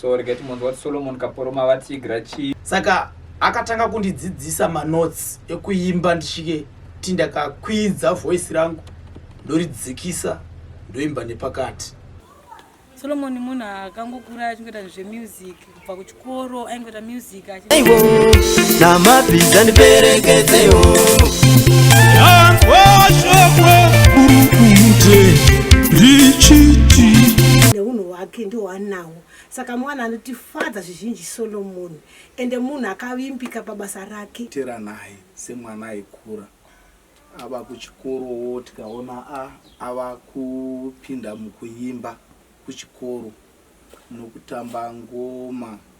so regai timonzwa kuti solomon kaporoma vatiigira chii saka akatanga kundidzidzisa manotes ekuimba ndisvike ti ndakakwidza voice rangu ndoridzikisa ndoimba nepakati solomon munhu akangokura achingoita zvemusic kubva kuchikoro aingoita music namabhiza ndiperekedzewo yanzwashoko burukumute richiti neunhu hwake ndohwanawo saka mwana anotifadza zvizhinji solomoni ende munhu akavimbika pabasa rake tera naye semwana aikura ava kuchikorowo tikaona a ava kupinda mukuimba kuchikoro nokutamba ngoma